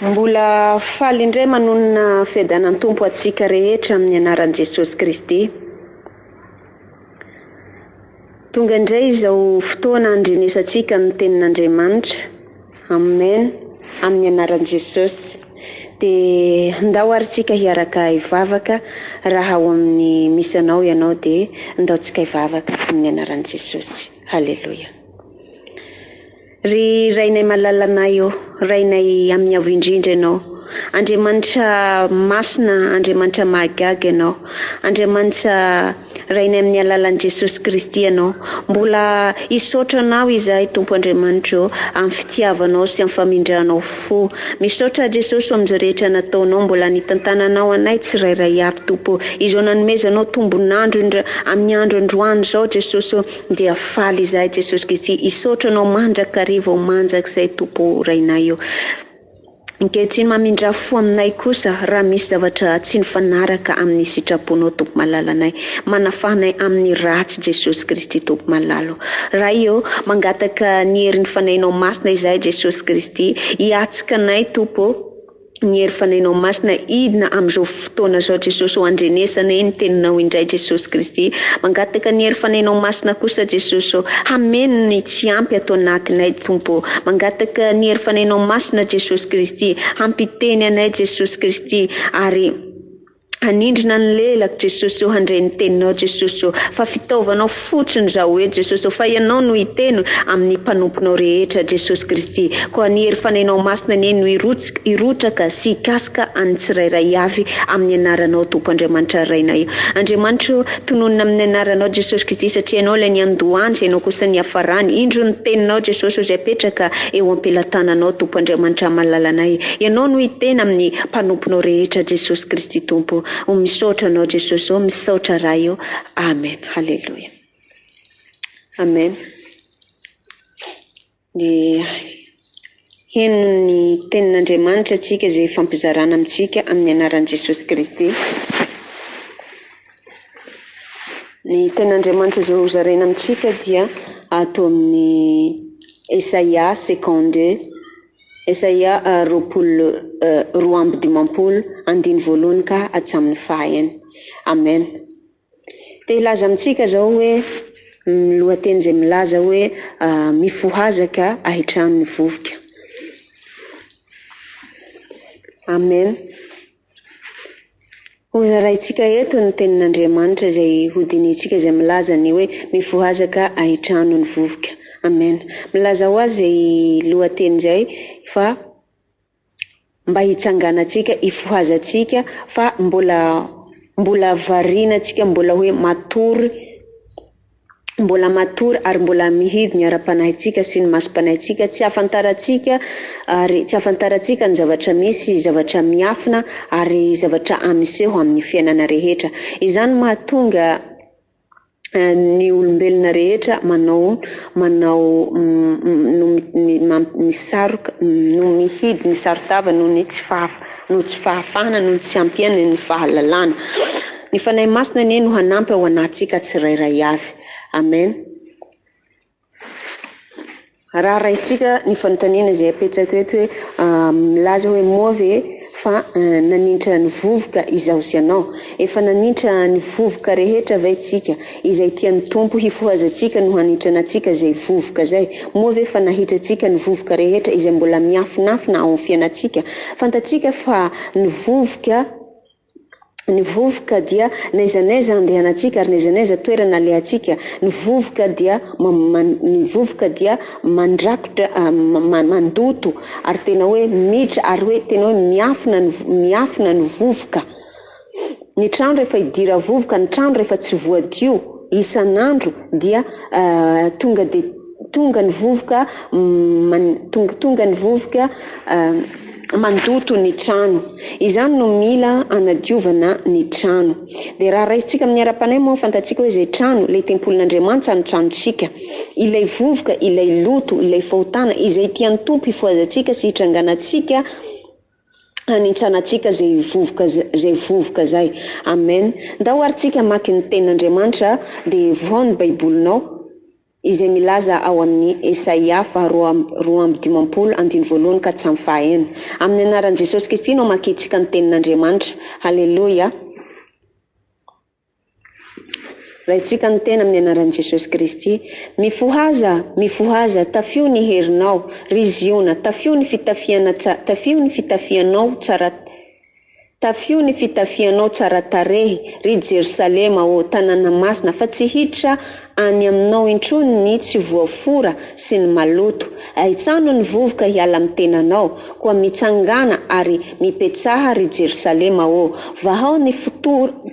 Mbola faly indray manonona fiadanan Tompo antsika rehetra amin'ny anaran'i Jesosy Kristy. Tonga indray izao fotoana andrenesantsika ny tenin'Andriamanitra. Amen amin'ny anaran'i Jesosy. Dia ndao ary tsika hiaraka hivavaka raha ao amin'ny misy anao ianao dia ndao tsika hivavaka amin'ny anaran'i Jesosy. Haleloia. Ry Rainay malalanay ô, Rainay amin'ny Avo Indrindra Ianao, Andriamanitra Masina, Andriamanitra Mahagaga Ianao, Andriamanitra Rainy amin'ny alalan'i Jesosy Kristy ianao. Mbola hisaotra anao izahay Tompo Andriamanitra ô, amin'ny fitiavanao sy amin'ny famindranao fo. Misaotra aho Jesosy ho amin'izao rehetra nataonao, mbola nitantananao anay tsirairay avy Tompo ô. Izao nanomezanao tombon'andro indra amin'ny andro androany izao Jesosy ô, dia faly izahay Jesosy Kristy. Hisaotra anao mandrakariva ho manjak'izay Tompo ô Rainay ô. Ankehitriny mamindrà fo aminay kosa raha misy zavatra tsy nifanaraka amin'ny sitraponao Tompo malalanay. Manafaha anay amin'ny ratsy Jesosy Kristy Tompo malala o. Ray ô, mangataka ny herin'ny Fanahinao Masina izahay Jesosy Kristy, hiatsika anay Tompo ô, ny herin'ny Fanahinao Masina hidina amin'izao fotoana zao Jesosy o Andrenesana e ny teninao indray Jesosy Kristy Mangataka ny hery fanainao masina kosa Jesosy o Hameno ny tsy ampy ato anatinay Tompo o Mangataka ny hery fanainao masina Jesosy Kristy Hampiteny anay Jesosy Kristy Ary hanindrina ny lelako Jesosy o Handre ny teninao Jesosy o Fa fitaovanao fotsiny zaho eto Jesosy o Fa ianao no hiteno amin'ny mpanomponao rehetra Jesosy Kristy Koa ny hery fanainao masina anie no hirotsaka sy hikasika an'ny tsirairay avy amin'ny anaranao Tompo Andriamanitra Rainay o! Andriamanitra o! Tononina amin'ny anaranao Jesosy Kristy satria Ianao ilay niandohany izay Ianao kosa niafarany indro ny Teninao Jesosy o izay apetraka eo ampelatananao Tompo Andriamanitra Malalanay Ianao no hiteny amin'ny mpanomponao rehetra Jesosy Kristy Tompo o! Misaotra Anao Jesosy o! Misaotra Ray o! Amen Haleloia Amen. Dia heno ny tenin'Andriamanitra antsika izay ifampizarana amintsika amin'ny anaran'i Jesosy Kristy. Ny tenin'Andriamanitra izay hozaraina amintsika dia ato amin'ny Esaia second deux, Esaia roapolo roa amby dimampolo, andiny voalohany ka hatramin'ny fahaenina. Amen. Te hilaza amintsika izao hoe ny lohateny izay milaza hoe Mifohazaka hahitrano ny vovoka. Amen. Hozaraintsika eto ny tenin'Andriamanitra izay hodinihintsika izay milaza ny hoe Mifohazaka hahitrano ny vovoka. Amen. Milaza ho azy izay lohateny izay fa. mba hitsanganantsika, hifohazantsika fa mbola mbola variana antsika mbola hoe matory mbola matory ary mbola mihidy ny ara-panahintsika sy ny masom-panahintsika, tsy ahafantarantsika ary tsy ahafantarantsika ny zavatra misy, zavatra miafina ary zavatra miseho amin'ny fiainana rehetra, izany mahatonga ny olombelona rehetra manao manao no misaroka no mihidy ny saron-tava noho ny tsy fahafa noho tsy fahafahana noho ny tsy hampiany ny fahalalana. Ny Fanahy Masina anie no hanampy ao anatintsika tsirairay avy. Amen. Raha raisintsika ny fanontaniana izay apetsako eto hoe milaza hoe moa ve fa nanintra ny vovoka izaho sy ianao? Efa nanintra ny vovoka rehetra ve tsika? Izay tian'ny Tompo hifohazantsika no hanintrana antsika izay vovoka izay. Moa ve fa nahitratsika ny vovoka rehetra izay mbola miafinafina ao amin'ny fiainantsika? Fantatsika fa ny vovoka Ny vovoka dia n'aiza n'aiza andehanantsika ary n'aiza n'aiza toerana alehantsika. Ny vovoka dia ny vovoka dia mandrakotra mandoto ary tena hoe miditra ary hoe tena hoe miafina ny miafina ny vovoka. Ny trano rehefa hidira vovoka, ny trano rehefa tsy voadio isan'andro dia tonga dia Tonga ny vovoka man, tonga, tonga ny vovoka mandoto ny trano. Izany no mila anadiovana ny trano. Dia raha raisintsika amin'ny ara-panahy moa, fantatsika hoe izay trano, ilay tempolin'Andriamanitsa no tranontsika. Ilay vovoka, ilay loto, ilay fahotana, izay tian'ny Tompo hifohazantsika sy hitranganantsika hanintsanantsika izay vovoka, izay vovoka izay. Amen. Ndao ary tsika hamaky ny Tenin'Andriamanitra, dia vohao ny Baibolinao. izay milaza ao amin'i Esaia faha roa roa amby dimampolo andininy voalohany ka hatramin'ny faha enina. Amin'ny anaran'i Jesosy Kristy no amakiantsika ny Tenin'Andriamanitra. Haleloia! Raintsika ny tena amin'ny anaran'i Jesosy Kristy. Mifohaza! Mifohaza! Tafio ny herinao, ry Ziona! Tafio ny fitafiana tsa tafio ny fitafianao tsara Tafio ny fitafianao tsara tarehy, ry Jerosalema ô, tanàna masina, fa tsy hiditra any aminao intsony ny tsy voafora sy ny maloto. Ahitsano ny vovoka hiala amin'ny tenanao. Koa mitsangàna ary mipetsaha, ry Jerosalema ô, vahao ny fotorana.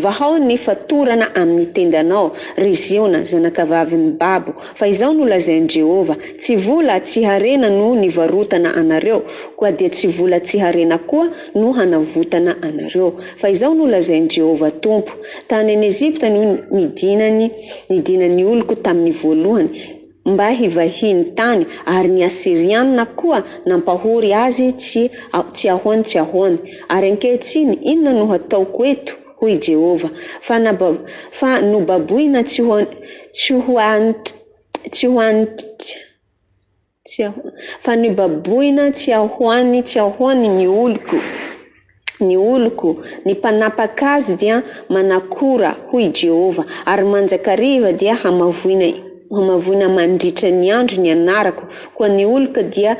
Vahao ny fatorana amin'ny tendanao, ry Ziona, zanakavavin'i babo, fa izao no lazain'i Jehovah, Tsy vola, tsy harena no nivarotana anareo, koa dia tsy vola, tsy harena koa no hanavotana anareo. Fa izao no lazain'i Jehovah Tompo, Tany an'i Ejipta no nidinany, nidinan'ny oloko tamin'ny voalohany, mba hivahiny tany, ary ny Asyrianina koa nampahory azy tsy tsy ahoany tsy ahoany. Ary ankehitriny, inona no hataoko eto? hoy Jehovah. Fa naba fa nobaboina tsy ho tsy ho an tsy ho an tsy tsy ho an fa nobaboina tsy ahoany tsy ahoany ny oloko. Ny oloko, ny mpanapaka azy dia manakora, hoy i Jehovah, ary manjakariva dia hamavoina hamavoina mandritra ny andro ny anarako, koa ny oloko dia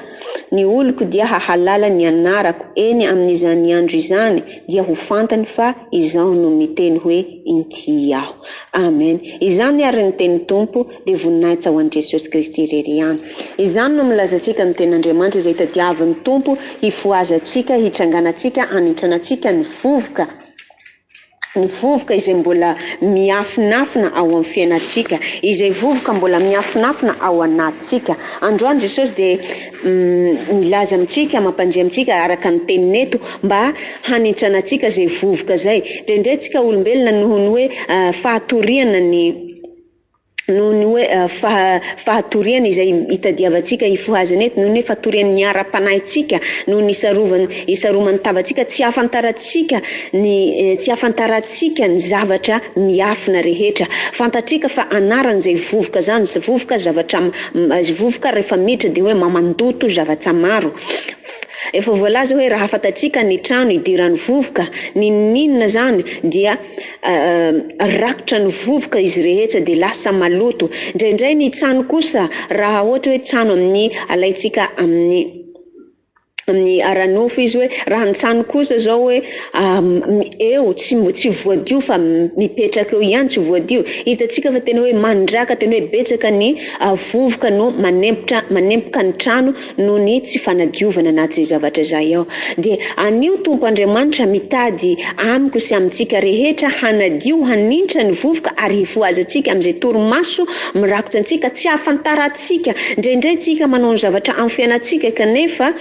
ny oloko dia hahalala ny anarako, eny, amin'izany andro izany dia ho fantany fa Izaho no miteny hoe, Inty Aho. Amen. Izany àry ny tenin'ny Tompo. dia voninahitra ho an'i Jesosy Kristy irery ihany. Izany no milazantsika ny Tenin'Andriamanitra izay tadiavin'ny Tompo hifohazantsika, hitranganantsika, hanintsanantsika ny vovoka, ny vovoka izay mbola miafinafina ao amin'ny fiainantsika, izay vovoka mbola miafinafina ao anatintsika. Androany Jesosy dia milaza amintsika, mampandre amintsika araka ny Teniny eto mba hanintsanantsika izay vovoka izay. Drendraintsika olombelona noho ny hoe fahatoriana ny. noho ny hoe faha fahatoriany izay itadiavantsika hifohazana eto, noho ny hoe fatoriany ny ara-panahintsika, noho ny isarovany isaroman'ny tavantsika, tsy ahafantarantsika ny tsy ahafantarantsika ny zavatra miafina rehetra. Fantatrika fa anarany izay vovoka zany, vovoka zavatra vovoka rehefa miditra dia hoe mamandoto zavatra maro. Efa voalaza hoe raha fantatsika ny trano idiran'ny vovoka, n'inon'inona zany dia Rakotra ny vovoka izy rehetra dia lasa maloto. Indraindray ny tsano kosa raha ohatra hoe tsano amin'ny alaintsika amin'ny amin'ny ara-nofo izy hoe raha ny tsano kosa zao hoe eo tsy mbo- tsy voadio fa mipetraka eo ihany tsy voadio, hitantsika fa tena hoe mandraka tena hoe betsaka ny vovoka no manempotra manempoka ny trano. noho ny tsy fanadiovana na tsy zavatra izay aho, dia anio Tompo Andriamanitra mitady amiko sy amintsika rehetra hanadio hanintra ny vovoka ary hifohazantsika amin'izay torimaso mirakotra antsika tsy ahafantarantsika, indraindray tsika manao ny zavatra amin'ny fiainantsika kanefa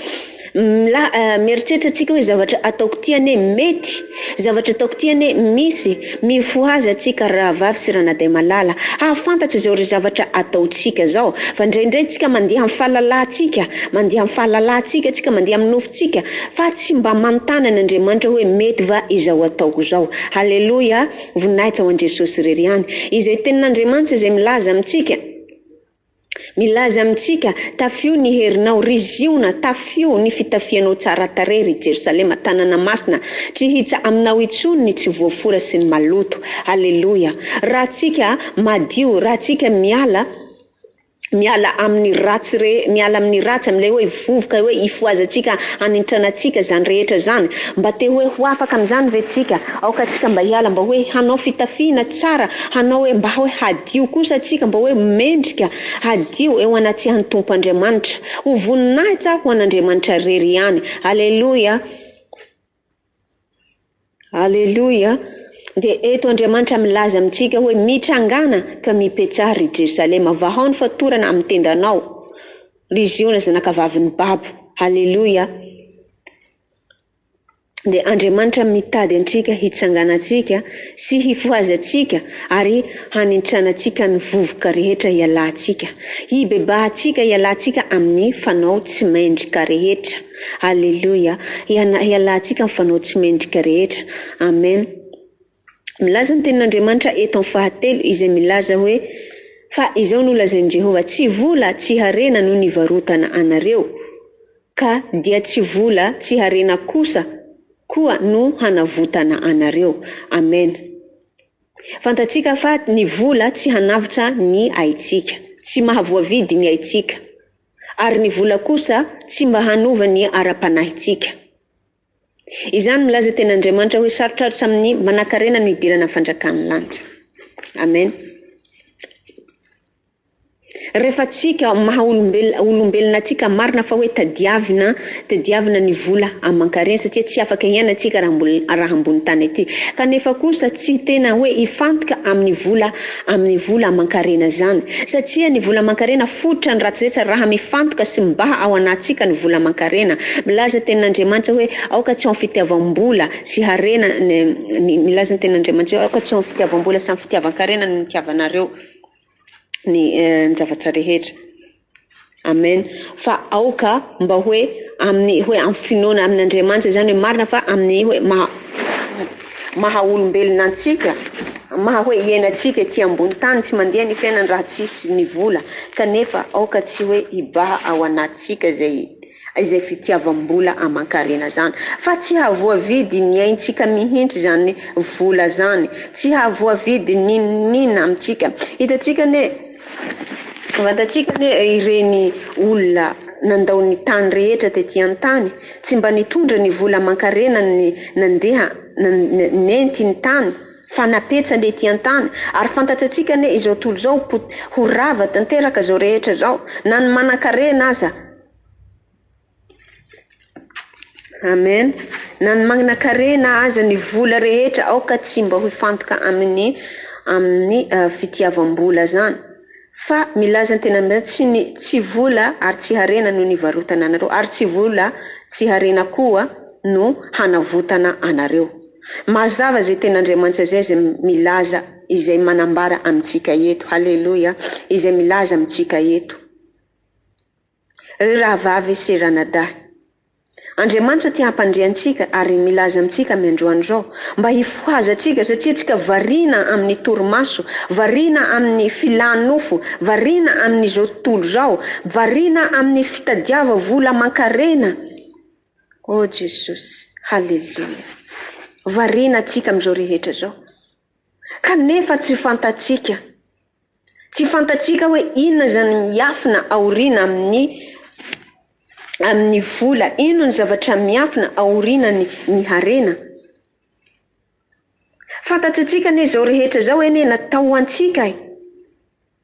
mieritreritra tsika hoe zavatra ataoko ty anie mety. Zavatra ataoko ty anie misy, mifohaza tsika rahavavy sy ranadahy malala, hahafantatra zao ry zavatra ataontsika zao, fa ndraindray tsika mandeha am falalatsika, mandeha am fahalalatsika tsika, mandeha am nofotsika, fa tsy mba manontana an Andriamanitra hoe mety va izao ataoko zao? Haleloia, voninahitra ho an Jesosy irery ihany, izay tenin Andriamanitra izay milaza amintsika, Milaza amintsika, Tafio ny herinao, ry Ziona, tafio ny fitafianao tsara tarehy, ry Jerosalema, tanàna masina. Tsy hihitsa aminao intsony ny tsy voafora sy ny maloto. Aleloia! Raha tsika madio, raha tsika miala, miala amin'ny ratsy re, miala amin'ny ratsy, amin'ilay hoe vovoka, hoe hifohazantsika, hanintranantsika izany rehetra izany. Mba te hoe ho afaka amin'izany ve tsika? Aoka tsika mba hiala, mba hoe hanao fitafiana tsara, hanao hoe mba hoe hadio. Hadio kosa antsika mba hoe mendrika hadio eo anatsihan'ny Tompo Andriamanitra. Ho voninahitsa aho ho an'Andriamanitra irery ihany. Aleloia! Aleloia! Dia eto Andriamanitra milaza amintsika hoe, Mitrangàna ka mipetsaha, ry Jerosalema, vahao ny fatorana amin'ny tendanao, ry Ziona zanakavavin'ny babo. Aleloia! dia Andriamanitra mitady antsika hitsanganantsika sy hifohazantsika ary hanintsanantsika ny vovoka rehetra ialantsika. Hibebahantsika ialantsika amin'ny fanao tsy mendrika rehetra. Aleloia. Hialantsika amin'ny fanao tsy mendrika rehetra. Amen. Milaza ny tenin'Andriamanitra eto amin'ny fahatelo izay milaza hoe fa izao no lazain'i Jehovah, Tsy vola, tsy harena no nivarotana anareo. Ka dia tsy vola tsy harena kosa koa no hanavotana anareo. Amen. Fantatsika fa ny vola tsy hanavotra ny aitsika. Tsy mahavoavidy ny aitsika. Ary ny vola kosa tsy mba hanova ny ara-panahitsika. Izany milaza teny Andriamanitra hoe sarotrarotra amin'ny manankarena no hidirana ny fanjakan'ny lanitra. Amen. Rehefa tsika maha olombelona olombelona tsika marina fa hoe tadiavina tadiavina ny vola amankarena satria tsy afaka hiaina tsika raha mbola raha ambony tany aty kanefa kosa tsy tena hoe hifantoka amin'ny vola amin'ny vola aman-karena izany, satria ny vola aman-karena fototra ny ratsy rehetra raha mifantoka sy mibaha ao anatsika ny vola aman-karena. Milaza ny tenin'Andriamanitra hoe aoka tsy ao ny fitiavam-bola sy harena ny milaza ny tenin'Andriamanitra hoe aoka tsy ao ny fitiavam-bola sy amin'ny fitiavan-karena ny nitiavanareo ny zavatra rehetra. Amen fa aoka mba hoe amin'ny hoe amin'ny finoana amin'Andriamanitra izany hoe marina fa amin'ny hoe maha maha olombelona antsika maha hoe iainantsika ety ambony tany tsy mandeha ny fiainana raha tsisy ny vola kanefa aoka tsy hoe hibaha ao anatintsika zay izay fitiavam-bola aman-karena zany fa tsy hahavoavidy ny aintsika mihintsy zany vola zany tsy hahavoavidy n'inon'inona amintsika hitantsika anie fantantsika anie ireny olona nandao ny tany rehetra tety an-tany tsy mba nitondra ny vola aman-karena ny nandeha nenty ny tany fa napetsany ety an-tany ary fantatsatsika anie izao tolo izao ho rava tanteraka zao rehetra zao na ny manan-karena aza Amen! Na ny magnakarena aza ny vola rehetra aoka tsy mba ho hifantoka amin'ny amin'ny fitiavam-bola zany fa milaza ny tena mbe tsy ny tsy vola ary tsy harena no nivarotana anareo ary tsy vola tsy harena koa no hanavotana anareo mazava zay tena Andriamanitra zay zay milaza izay manambara amintsika eto haleloia izay milaza amintsika eto Ry rahavavy sy ranadahy. Andriamanitra te hampandre antsika ary milaza amintsika amin'ny androany izao mba hifohazantsika satria antsika variana amin'ny torimaso, variana amin'ny filan-nofo, variana amin'izao tontolo izao, variana amin'ny fitadiava vola aman-karena. Oh Jesosy, haleloia. Variana antsika amin'izao rehetra izao. Kanefa tsy fantatsika. Tsy fantatsika hoe inona izany miafina aoriana amin'ny amin'ny vola, inona ny zavatra miafina aorianan'ny ny harena. Fantatsintsika anie izao rehetra izao anie natao ho antsika e!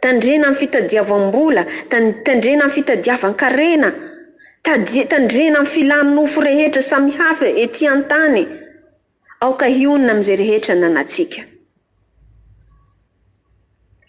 Tandrena ny fitadiavam-bola, tandrena ny fitadiavan-karena, tandrena ny filan'ny nofo rehetra samy hafa ety an-tany. Aoka hionona amin'izay rehetra ananantsika.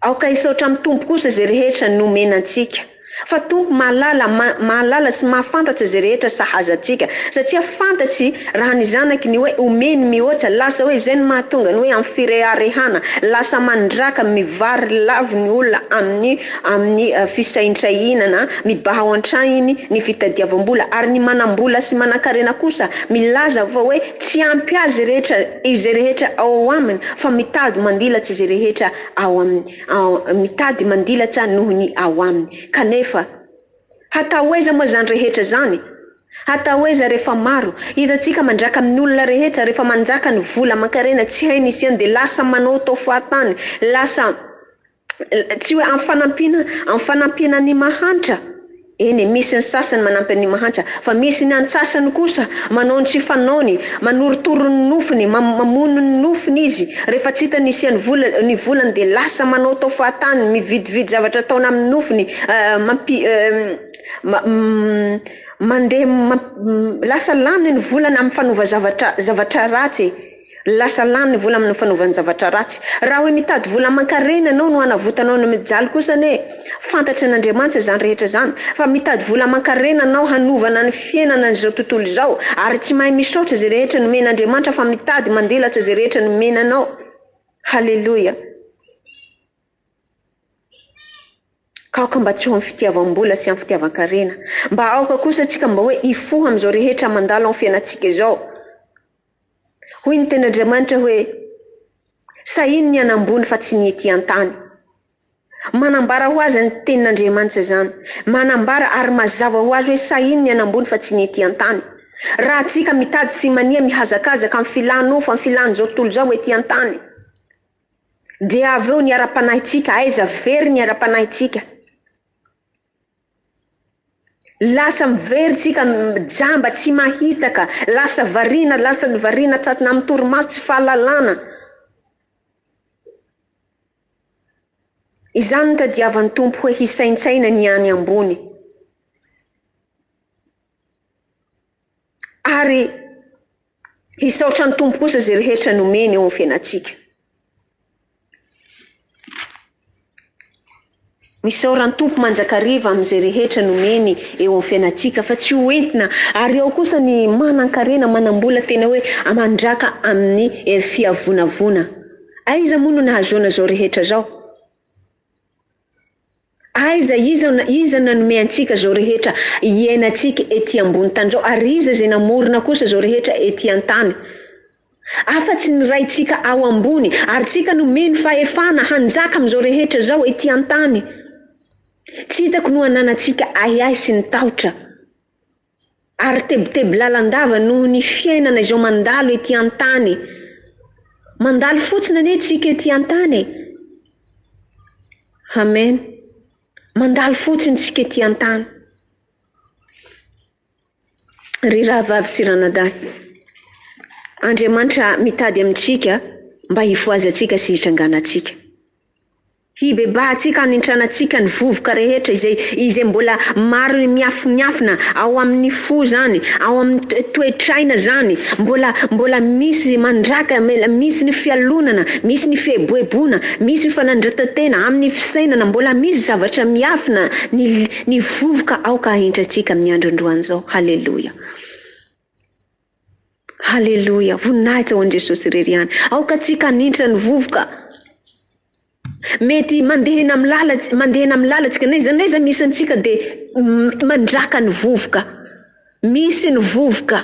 Aoka hisaotra amin'ny Tompo kosa izay rehetra nomena antsika. Fa Tompo mahalala, ma, mahalala sy mahafantatra izay rehetra sahaza antsika, satria fantatsy raha ny Zanakiny ny hoe omeny mihoatra, lasa hoe izay no mahatonga ny hoe amin'ny fireharehana, lasa mandraka, mivary lavo ny olona amin'ny, amin'ny fisaintrainana, mibaha ao an-trahiny ny fitadiavam-bola, ary ny manam-bola sy manan-karena kosa milaza fa hoe tsy ampy azy rehetra izay rehetra ao aminy, fa mitady mandilatsy izay rehetra ao aminy. mitady mandilatsa noho ny ao aminy. Kanefa, hatao aiza moa izany rehetra izany? Hatao aiza rehefa maro? Hitantsika mandraka amin'ny olona rehetra, rehefa manjaka ny vola aman-karena tsy hainy isiany dia lasa manaotao fahatany, lasa tsy hoe amin'ny fanampiana, amin'ny fanampiana ny mahantra. Eny, misy ny sasany manampy an'ny mahantra, fa misy ny antsasany kosa manao ny tsy fanaony, manorotoro ny nofony, ma, mamono ny nofony izy, rehefa tsy hita ny hisian'ny vola, ny volany dia lasa manaotao fahatany, mividividy zavatra ataona amin'ny nofony, eh, mampi, eh, ma, ma, mandeha, ma, ma, lasa lany ny volany amin'ny fanova zavatra, zavatra ratsy. Lasa lany ny vola amin'ny fanaovan-javatra ratsy. Raha hoe mitady vola aman-karena ianao no hanavotanao ny mijaly kosa anie fantatry an'Andriamanitra izany rehetra izany fa mitady vola aman-karena hanao hanovana ny fiainana an'izao tontolo izao ary tsy mahay misaotra izay rehetra nomen'Andriamanitra fa mitady mandilatsa izay rehetra nomena anao. Haleloia. Ka aoka mba tsy ho amin'ny fitiavam-bola sy amin'ny fitiavan-karena. Mba aoka kosa tsika mba hoe hifoha amin'izao rehetra mandalo amin'ny fiainantsika izao. Hoy ny teny Andriamanitra hoe, Sahiny ny any ambony fa tsy ny ety an-tany. Manambara ho azy ny tenin' Andriamanitra izany. Manambara ary mazava ho azy hoe sahiny ny any ambony fa tsy ny ety an-tany. Raha antsika mitady sy mania mihazakazaka amin'ny filan' nofo, amin'ny filan' izao tontolo izao ety an-tany, dia avy eo ny ara-panahintsika, aiza very ny ara-panahintsika? Lasa mivery tsika jamba tsy mahita ka, lasa variana lasa ny variana tratsina amin'ny torimaso tsy fahalalana, izany no tadiavan'ny Tompo hoe hisaintsaina ny any ambony. Ary hisaotra ny Tompo kosa izay rehetra nomeny eo amin'ny fiainantsika. Misaora ny Tompo manjakariva amin'izay rehetra nomeny eo amin'ny fiainantsika fa tsy ho entina. Ary ao kosa ny manan-karena, manam-bola tena hoe aman-draka amin'ny hery fiavonavona. Aiza moa no nahazoana izao rehetra izao? Aiza iza iza nanome antsika zao rehetra hiainantsika ety ambony tany zao ary iza zay namorona kosa zao rehetra ety antany afa tsy ny Raintsika ao ambony ary tsika nomeny fahefana hanjaka amizao rehetra zao ety antany tsy hitako no ananantsika ahiahy sy ny tahotra ary tebiteby lalandava noho ny fiainana izao mandalo ety an-tany. Mandalo fotsiny anie tsika ety an-tany e. Amen. Mandalo fotsiny tsika ety an-tany. Ry rahavavy sy ranadahy, Andriamanitra mitady amintsika mba hifohazantsika sy hitranganantsika. Hibebahantsika hanintranantsika ny vovoka rehetra izay izay mbola maro miafimiafina ao amin ny fo zany, ao amin ny toetraina zany, mbola mbola misy mandraka, mbola misy ny fialonana, misy ny fieboeboana, misy fanandritatena amin ny fisainana, mbola misy zavatra miafina, ny ny vovoka aoka ahintrantsika amin ny andro androany zao. Haleloia. Haleloia! Voninahitra ho an'i Jesosy irery ihany. Aoka antsika hanintra ny vovoka. Mety mandeha eny amin'ny lala, mandeha eny amin'ny lalantsika, n'aiza n'aiza misy antsika dia mandraka ny vovoka. Misy ny vovoka.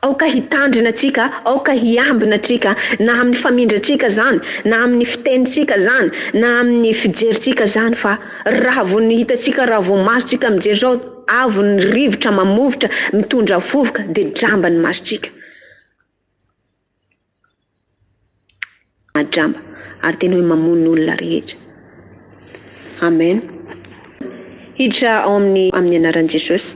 Aoka hitandrina antsika, aoka hiambina antsika, na amin'ny famindrantsika izany, na amin'ny fitenintsika izany, na amin'ny fijerintsika izany, fa raha vao ny hitantsika, raha vao masontsika mijery izao, Avo ny rivotra mamovotra mitondra vovoka dia jamba ny masotsika. Jamba. Ary tena hoe mamono olona rehetra. Amen. Hiditra ao amin'ny amin'ny anaran'i Jesosy.